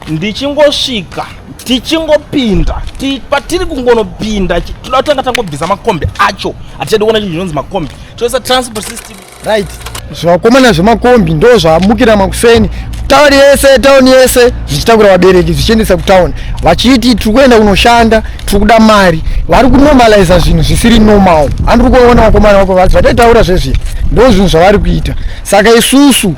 ndichingosvika tichingopinda patiri kungonopinda toda kutanga tangobvisa makombi acho hatichadi kuona chinhu chinonzi makombi toisa transport system right zvivakomana zvemakombi ndo zvamukira makuseni tauni yese tauni yese zvichitakura vabereki zvichiendesa kutauni vachiti tiri kuenda kunoshanda tiri kuda mari vari kunormaliza zvinhu zvisiri normal andiri kuona vakomana vako vati vataitaura zvezvii ndo zvinhu zvavari kuita saka isusu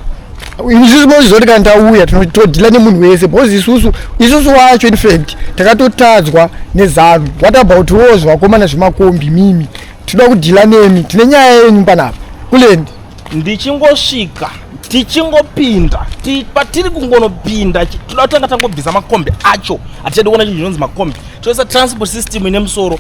isusu mozvizoti kana tauya todhila nemunhu wese because isusu isusu wacho infact takatotadzwa nezanu what about wos vakomana zvemakombi mimi tinoda kudhila nemi tine nyaya yenyu panapa kulendi ndichingosvika tichingopinda patiri kungonopinda tinoda kutanga tangobvisa makombi acho hatichadi kuona chinhu chinonzi makombi toisa transport system ine musoro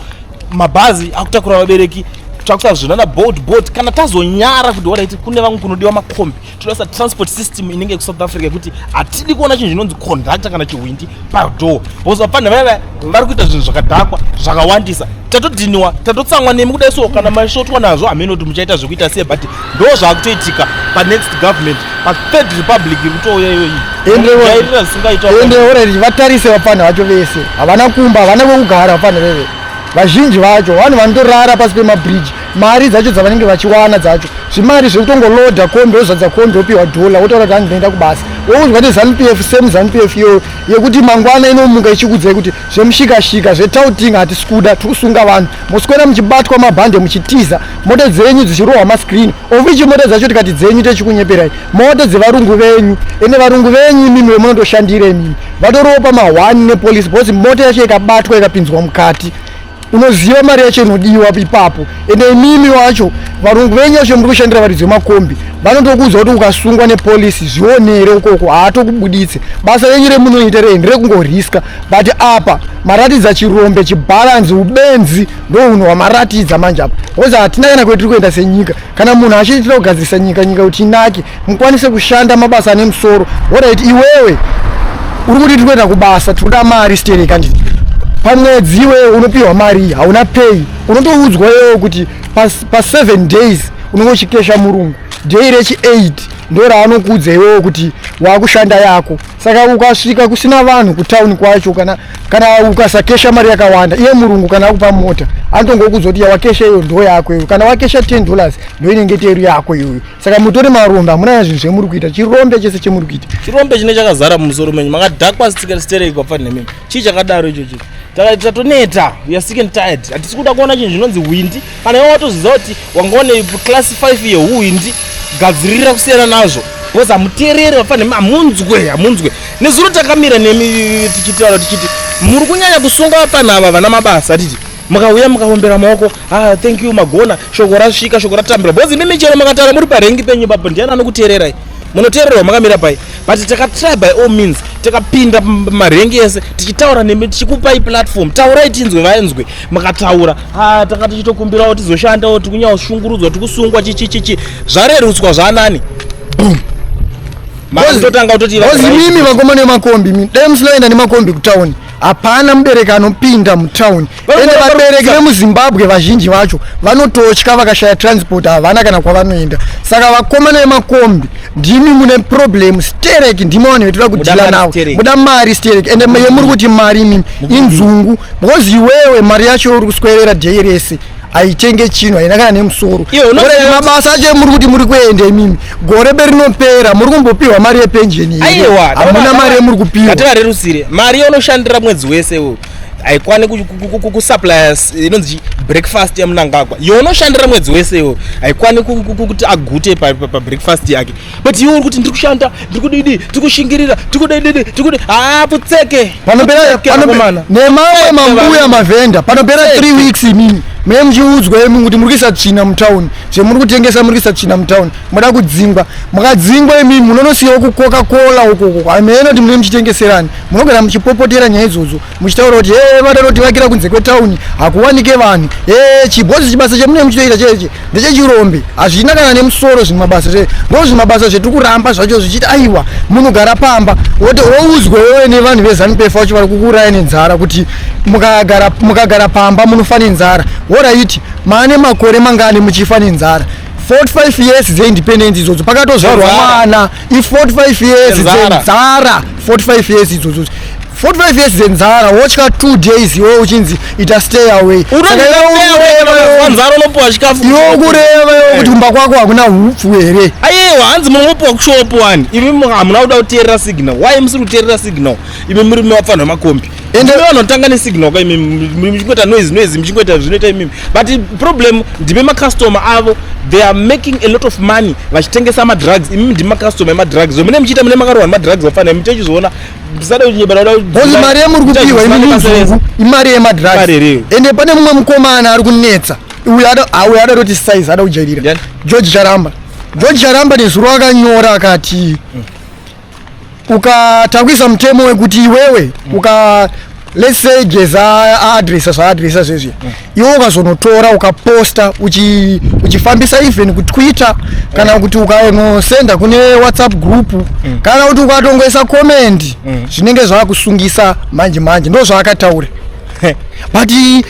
mabhazi akutakura vabereki takuta zvinana boat boat kana tazonyara kuti wadaiti kune vamwe kunodiwa makombi toda sa transport system inenge kusouth africa yekuti hatidi kuona chinhu chinonzi conductor kana chihwindi padoor bcause vapfanha vaya vaya vari kuita zvinhu zvakadhakwa zvakawandisa tatodhiniwa tatotsamwa nemi kudai so kana maisvotwa nazvo hameno kuti muchaita zvekuita sei but ndo zvaakutoitika panext government pathird republic iri kutouya iyoyi endeairira zvisingaitaendeoreri vatarise vapfanha vacho vese havana kumba havana kwekugara vapfanha veve vazhinji vacho vanhu vanotorara pasi pemabridge mari dzacho dzavanenge vachiwana dzacho zvimari zvekutongoloda kombi wozvadza kombi wopiwa dhola wotaura kuti hanzi ndoenda kubasa woudzwa nezanu p f same zanu p f iyoyo yekuti mangwana inomuka ichikudzai kuti zvemushikashika zvetouting hatisi kuda tiri kusunga vanhu moswera muchibatwa mabhande muchitiza mota dzenyu dzichirohwa mascreen ovichi mota dzacho tikati dzenyu techikunyeperai mota dzevarungu venyu ende varungu venyu imimi vemunondoshandira imimi vatoropa mahwani nepolice because mota yacho ikabatwa ikapinzwa mukati unoziva mari yacho inodiwa ipapo ende imimi wacho varungu venyu vacho muri kushandira varidzi vemakombi vanotokuudza kuti ukasungwa nepolisi zvionere ukoko haatokubuditse basa renyu remunoita reni rekungoriska but apa maratidza chirombe chibhalanzi ubenzi ndouno wamaratidza manje apa bcause hatina kana kwetiri kuenda senyika kana munhu achiitira kugadzirisa nyika nyika kuti inake mukwanise kushanda mabasa ane musoro orit iwewe uri kuti tiri kuenda kubasa tiri kuda mari steni kandini pamwedzi iwewe unopiwa mari hauna pay unotoudzwa iwewe kuti paseven pa days unenge uchikesha murungu day rechi eight ndo raanokuudza iwewe kuti waakushanda yako saka ukasvika kusina vanhu kutauni kwacho kana kana ukasakesha mari yakawanda iye murungu kana akupa mota anotongokuudza kuti yawakesha iyo ndo yako iyo kana wakesha ten dollars ndo inenge teru yako iyoyo saka mutori marombe hamuna zvinhu zvemuri kuita chirombe chese chemuri kuita chirombe chine chakazara mumusoro menyu makadhakwa stereki kwapfani nemimi chii chakadaro icho chii tatoneta weare sick and tired hatisi kuda kuona chinhu chinonzi hwindi kana iwe watoziva kuti wanga une class 5 yehwindi gadzirira kusiyana nazvo bcause hamuteereri vapfani nemi hamunzwe hamunzwe nezuro takamira nemi tichitaura tichiti muri kunyanya kusunga vapfani ava vana mabasa hatiti mukauya mukaombera maoko ah, thank you magona shoko rasvika shoko ratambira bhozi imimi chero makatara muri parengi penyu ipapo ndiani anokuteererai munoteererawo makamira pai but takatry by all means takapinda marengi ese tichitaura nemi tichikupai platform taurai tinzwe vainzwe makataura ha ah, tanga tichitokumbirawo tizoshandawo tikunyaoshungurudzwa tikusungwa chichichichi zvarerutswa zvanani boom makatotanga kutoti imimi vakomana vemakombi mi dai musinoenda nemakombi kutauni hapana mubereki anopinda mutown ende vabereki vemuzimbabwe vazhinji vacho vanototya vakashaya transport havana kana kwavanoenda saka vakomana vemakombi ndimi mune problem sterek ndimi vanhu vetoda kudhila navo muda mari sterek ende yemuri kuti mari imimi inzungu because iwewe mari yacho uri kuswerera day rese haichenge chinhu haina kana nemusoro mabasa acho emuri kuti muri kuenda imimi gore berinopera muri kumbopiwa mari yepenjeni hamuna mari yemuri kupiwaativarerusire mari yaunoshandira mwedzi wese wo haikwani kusuplya inonzi breakfast yamunangagwa younoshandira mwedzi wese wo haikwani kuti agute pabreakfast yake but iwe uri kuti ndiri kushanda ndiri kudidi tiri kushingirira tiri kudididi tiri kudi haa putseke panoperakomana nemamwe mambuya mavhenda panopera three weeks imini mune muchiudzwa imi kuti muri kuisa tsvina mutown zvemuri kutengesa muri kuisa tsvina mutown moda kudzingwa mukadzingwa imimi munonosiyawo kukoka kola ukoko hameno kuti mune muchitengeserani munogara muchipopotera nyaya idzodzo muchitaura kuti ee eh, vada vakira kunze kwetauni hakuwanike vanhu ee eh, chibhozi chibasa chemunenge muchitoita cheche ndechechirombe hazvina kana nemusoro zvimwe mabasa zve ndo zvimwe mabasa zvetiri kuramba zvacho zvichiti aiwa munogara pamba wote woudzwa wewe nevanhu vezanupefa vacho vari kukuuraya nenzara kuti mukagara mukagara pamba munofa nenzara woraiti maane makore mangani muchifa nenzara 45 years dzeindependence idzodzo pakatozvarwa mwana if 45 years dzenzara 45 years idzodzo 45 years dzenzara wotya 2 days iwe uchinzi ita stay away iwewanzara unopiwa chikafu iwe ukureva iwe kuti kumba kwako hakuna hupfu here aiwa hanzi munopiwa kushopu wani imi hamuna kuda kuteerera signal why musiri kuteerera signal imi muri mavapfanhu vemakombi ende vanotanga nesignal ka imi muchingoita noise noise muchingoita zvinoita imimi but problem ndime macustomer avo they are making a lot of money vachitengesa madrugs imimi ndime macustomer emadrugs mune muchiita mune makarohwa nemadrugs vafanira muchechizviona musadakunyebaraozi mari yemuri kupiwa imimuzungu imari yemadrugs ende pane mumwe mukomana ari kunetsa uyo auyo ada toti size ada kujairira george charamba george charamba nezuro akanyora akati mm. ukatangwisa mutemo wekuti iwewe uka let's say geza aadresa zvaadresa zvezvi mm. iwe ukazonotora ukaposta uchifambisa uchi even kuti twitter kana mm. kuti ukanosenda kune whatsapp group mm. kana kuti ukatongoisa comment mm. zvinenge zvaakusungisa manje manje ndo zvaakataura but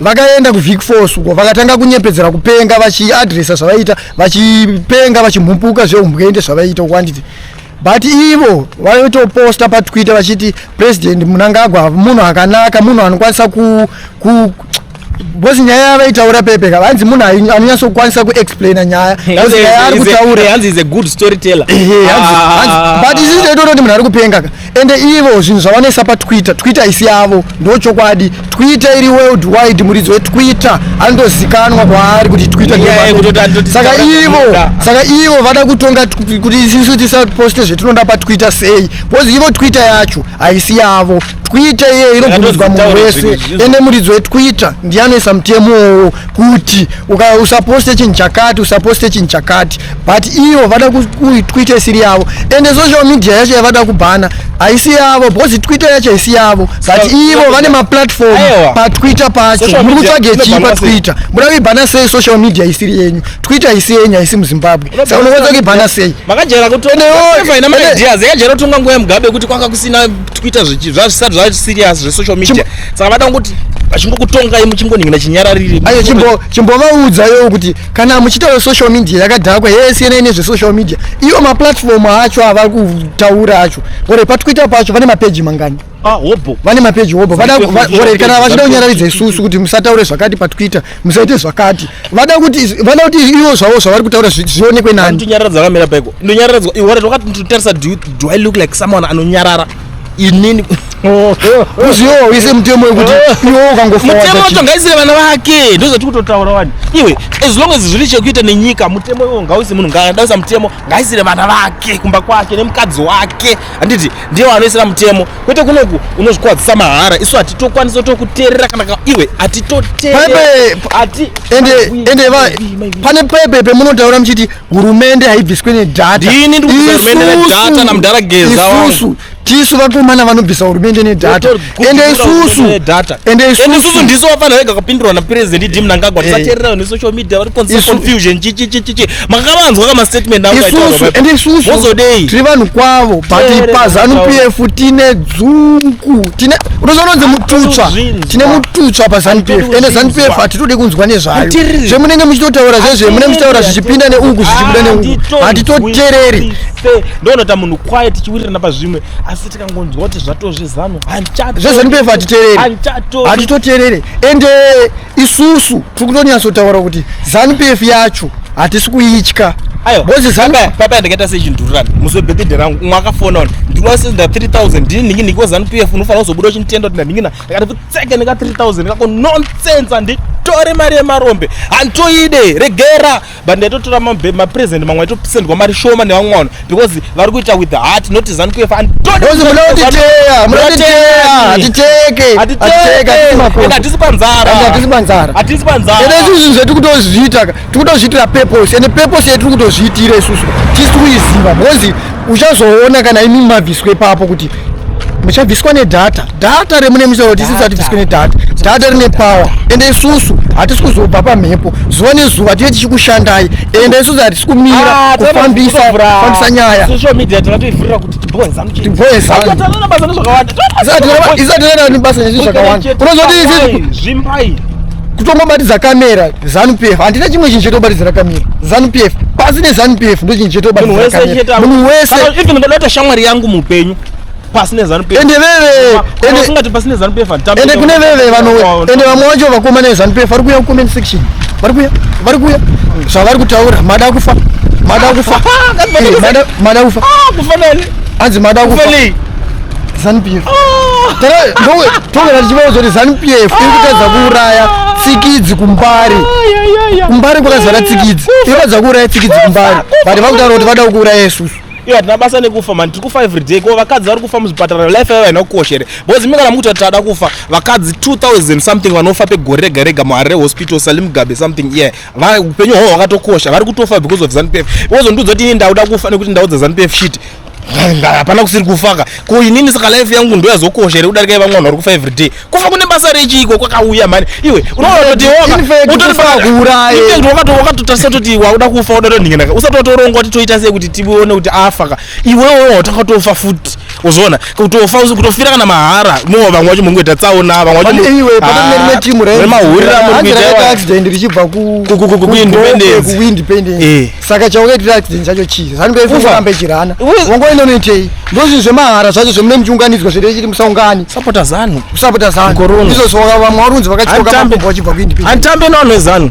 vakaenda kuvic force uko vakatanga kunyepedzera kupenga vachiadresa zvavaiita vachipenga vachimhupuka zveumbwende zvavaiita uko anditi but ivo vaitoposta patwitter vachiti president munangagwa munhu akanaka munhu anokwanisa ku, ku bcause nyaya yavaitaura pepe ka hanzi munhu anonyatsokwanisa kuexplaina nyaya hanzi nyaya ari kutaurahanzi is a good storyteller ah. but isizitototi munhu ari kupenga ka ende ivo zvinhu zvavanoisa patwitter twitter haisi yavo ndo chokwadi twitter iri world wide muridzi wetwitter andozikanwa kwaari kuti twitter saka ivo saka ivo vada kutonga kuti isisu tisaposte zvetinoda patwitter sei bcause ivo twitter yacho haisi yavo twitter iyeyo inobvumidzwa munhu wese ende muridzi wetwitter ndiye anoisa mutemowo kuti usaposte chinhu chakati usaposte chinhu chakati but iyo vada kuitwite isiri yavo ende social media yacho yavada kubhana haisi yavo because twitter yacho haisi yavo but ivo vane maplatform patwitter pacho muri kutsvage chii patwitter muda kuibhana sei social media isiri yenyu twitter haisi yenyu haisi muzimbabwe saka unokwanisa kuibhana sei makajaira kutoina maideas yakajaira kutonga nguva yemugabe kuti kwanga kusina twitter zvisati zvaserious zvesocial media saka vada kungoti vachingokutongai muchingonhingina chinyarariri ayo chimbovaudza yowo kuti kana muchitaura social media yakadhakwa yesiyana ine zvesocial media iwo maplatform acho avari kutaura acho ore pati kuita pacho vane mapeji mangani ah, hobho vane mapeji hobho ore kana vachida kunyararidza isusu kuti musataure zvakati pati kuita musaite zvakati vada kuti vada kuti ivo zvavo zvavari kutaura zvionekwe nani ndonyararadza kamira paiko ndonyararadzwa iore ndokati ndotarisa do i look like someone anonyarara inini uziwo wese mutemo wekuti iwo ukangofamutemo wacho ngaisire vana vake ndozoti kutotaura wani iwe as long as zviri chekuita nenyika mutemo iwo ngauise munhu ngaadausa mutemo ngaisire vana vake kumba kwake nemukadzi wake handiti ndiye wanoisira mutemo kwete kunoku unozvikuwadzisa mahara isu hatitokwanisa tokuteerera kana iwe hatitoteerera ende pane pepe pemunotaura muchiti hurumende haibviswe nedhataisusu tisu vakomana vanobvisa hurumende nedhata ende isusu ende isusu ndisu vafanira vega kapindurwa napresident idi mnangagwa tisateerera ne social media vari konse confusion chichichichichi makavanzwa ka mastatement aoende isusu tiri vanhu kwavo but pazanu p f tine dzungu tine unozononzi mututswa tine mututswa pazanupf ende zanupf hatitode kunzwa nezvayo zvemunenge muchitotaura zvezve mune muchitaura zvichipinda neuku zvichibuda neuku hatitotereri ndonota munhu kwaye tichiwirirana pazvimwe asi tikangonzwa kuti zvatozvezanu zvezanupf hatitereri hatitoterere ende isusu tiri kutonyatsotaura kuti zanupf yacho hatisi kuitya papa ndakaita sechindururani muzobhedhedhe rangu umwe akafona ona ndinosenda 3000 ndini ndingi ndiko zanupf unofanira kuzobuda uchinditenda kuti ndandingina akati kutseke neka 3000 kako nonsense handitore mari yemarombe handitoide regera but ndaitotora mapresent mamwe aitosendwa mari shoma nevamwe vanhu because vari kuita with the heart not zanu kuefa hatisi panzarahatisi panzaraizvizvi zvetiri kutozviita tiri kutozviitira purpose ende purpose yetiri kutozviitira isusu tisi kuiziva because uchazoona kana imi mabviswe papo kuti muchabviswa nedhata dhata remune musoro tisi tisati bviswe nedhata dhata rine pawa ende isusu hatisi kuzobva pamhepo zuva nezuva tinee tichikushandai ende isusu hatisi kumira ah, kufambisa fambisa nyaya tiboezaisati rana basa nezvi zvakawanda unozoti kutongobatidza kamera zanupf handina chimwe chinhu chetobatidzira kamira zanupf pasi nezanupf ndo chinhu chetobatidziramunhu wese ndodaita shamwari yangu muupenyu pasi nezanupf ende veveusingati pasi nezanupf ende kune veve vanowe oh, ende vamwe wacho vakoma nezanupf vari kuya kucomment section vari kuya vari kuya zvavari kutaura mada kufa mada kufa mada kufa hanzi mada kufa zanupf tongera tichivawo zoti zanupf iri kutadza kuuraya tsikidzi kumbari kumbari kwakazara tsikidzi iri kutadza kuuraya tsikidzi kumbari but vakutaura kuti vada kuuraya isusu iyo hatina basa nekufa mani tiri kufa everyday ko vakadzi vari kufa muzvipatara life yavo haina kukosh here bcause imi kana mukuti tada kufa vakadzi 2000 something vanofa pegore rega rega muharre hospital salimgabe something ye upenyu hwavo hwakatokosha vari kutofa because of zanupf because ndudza kuti ini ndauda kufa nekuti ndau dzazanupf shit hapana kusiri kufaka ko inini saka life yangu ndoyazokosha here kudarika ivamwe vanhu vari kufa everyday kufa kune basa rechiiko kwakauya mhani iwe unoaotiwakatotarisa toti wakuda kufa uda tonhinginaka usati watoronga kuti toita sei kuti tione kuti afaka iwewo watanga tofa futi uzoona kutofa kutofira kana mahara mo vamwe vacho mungoita tsaona vamwe vachomahurira murikuita kuindependence saka chaukaitira accident chacho chii zvandoifuambe chirana wangoenda unoitei ndozvinhu zvemahara zvacho zvemune muchiunganidzwa zviri chiri musaungani sapota zanu sapota zanu izvo zvavamwe varunzi vakachioka makumbo vachibva kuindiphanditambe navanhu vezanu